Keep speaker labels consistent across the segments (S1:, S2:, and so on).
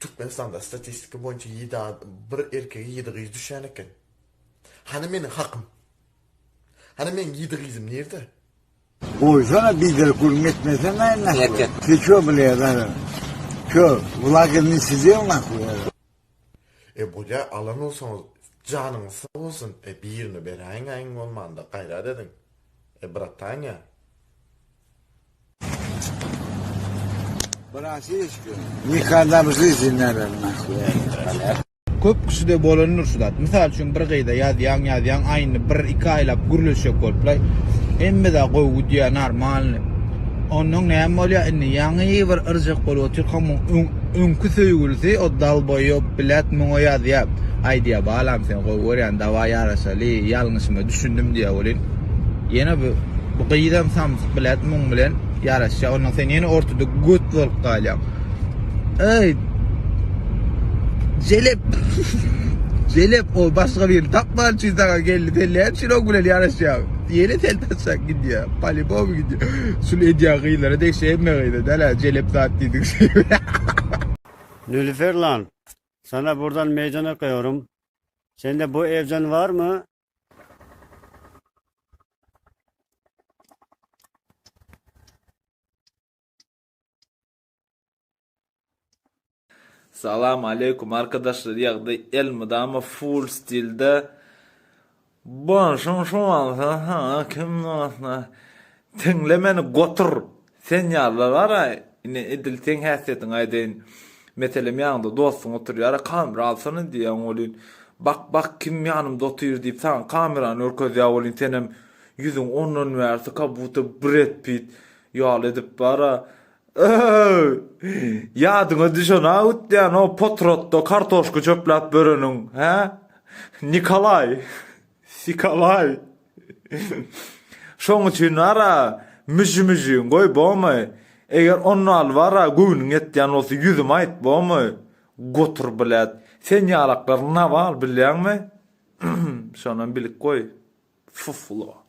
S1: Türkmenistanda statistika boýunça ýedi ad bir erkege ýedi gyz düşýän eken. Hany meniň hakym? Hany meniň ýedi gyzym nirde? Goýsana
S2: biderek gürrüň etmeseň gaýyn nahwa. Etjek. Ty ço bile
S3: zaryn.
S2: Ço, wlagini size nahwa. E
S1: bolýa alan bolsaňyz janyňyz sag bolsun e birine beräýiňä iň bolmanda gaýrat ediň e bratanya.
S2: Nikada bir şey dinlemedim.
S4: Köp kişide bolandyr şu zat. Mysal üçin bir gyza ýazýaň, ýazýaň, aýny bir, iki aýlap gürleşjek boluplar. Hemme zat gowy gidýär, normalny. Ondan näme bolýar indi? Ýaňy bir yrjak bolup otyrkaň, muň öň Öňki söýgülisi o dalboýop blýat muňa ýazýa aýdýa balam seni gowy görýän dawaý ýaraşaly ýalňyşyma düşündim diýä welin ýene bu bu gyzam samsyk blýat muň bilen ýaraşýa ondan sen ýene ortada göt bolup galýaň eý jelep jelep ol başga birini tapman üçin saňa geldi sen näme üçin oň bilen ýaraşýaň. Ýene telpek çak gidýär. Polibom gidýär. Şul edýän gyzlara degişli hemme gyza dälä jelep zat diýdik şeýle.
S5: Nülüfer lan sana burdan meydan okuyorum sende bu evden var mı?
S6: Salam aleykum arkadaşlar ýagdaý elmydama full stilde Bolşuň şu bolsa saňa kim dostlar Tiňle meni gotur sen ýalylar bara ine edil seň häsiýetiňi aýdaýyn meselem ýaňda dostuň oturýara kamera alsana diýýän welin bak bak kim ýanymda otyr diýip saňa kamerany görkezýär welin senem ýüzüň ondan bärsi ka buta bred pit ýaly edip bara Öööy! Ýadyňa düşen-ä ütýän o potratda kartoşka çöpläp böreniň, hä? Nikolaý! Sikolaý! Şoň üçin bar-a, müji-müjigin goý, bomy? Eger onnaly bar-a, göwnüň ýetýän bolsa, ýüzüme aýt, bomy? Gotur, blet! Sen ýalaklar nawal, bilýäňmi? Hm, şonam bilip goý, fuflo!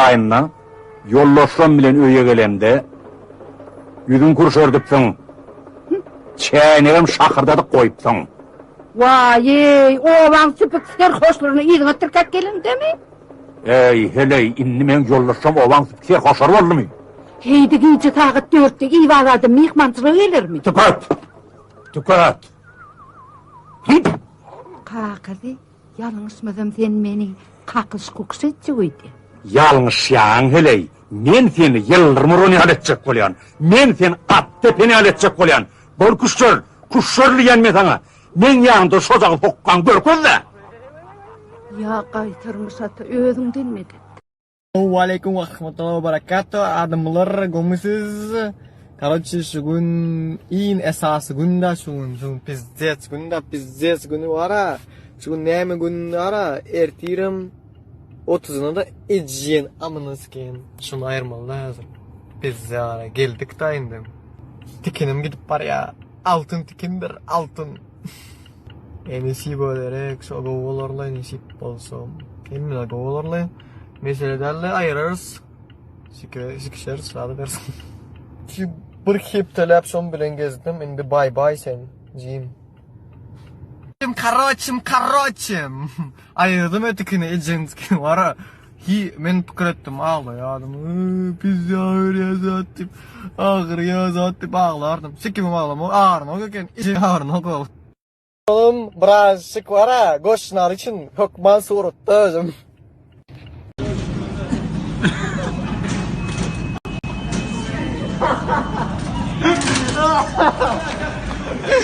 S3: Aýynda ýoldaşlaň bilen öýe gelemde, ýüzüňi kürşerdipsiň, çäýnegem şakyrdadyp goýupsyň. Waý-eý,
S7: obaň süpük serhoşlaryny yzyňa tirkäp gelendemi? Äý, heleý,
S3: indi meň ýoldaşlaň obaň süpük serhoşlary boldumy? Heýdi, gije
S7: sagat dörtde Iwag adam myhmançylyga gelermi? Tüket!
S3: Tüket! Hyýt!
S7: Kakasy Ýalňyşmasam sen meni kakyş kukyş etjek öýdi. Ýalňyşýaň
S3: heleý, men seni ýyldyrym uran ýaly etjek bolýan, men seni at depen ýaly etjek bolýan, bol küşşer, küşşer diýýän men saňa, meň ýanymda şo dagy sokgaň görkez-dä.
S7: Ýa gaýtarmyş ata özüňden medet. Waleýkum
S8: we rahmatullah we barakatuh. Adamlar gomisiz. Karoçi şu gün in esasy günde şu gün şu pizzet günde pizzet günü wara. Şu gün näme gün wara? Ertirem 30-na da ejien amyny sikin. Şunu aýyrmaly lazym. Pizza wara geldik da indi. Tikinim gidip barýa. Altyn tikindir, altyn. Enesip ölerek şo gowy bolarly nesip bolsa. Hemmeler gowy bolarly. Mesele däldi aýyrarys. Sikire sikişeris sady bersin. Şu bir hepdeläp şom bilen gezdim. Indi bay bay sen jim. Karoçim karoçim. Aýyrdym etikini ejenskini wara hi men pikir etdim aglaýardym öýy pizza berýä zat diýip agyrýa zat diýip aglardym sikimem aglamak arnok eken ejeň arnok ol. Oglum biraz sik wara goşnary üçin hökman suratda özüm.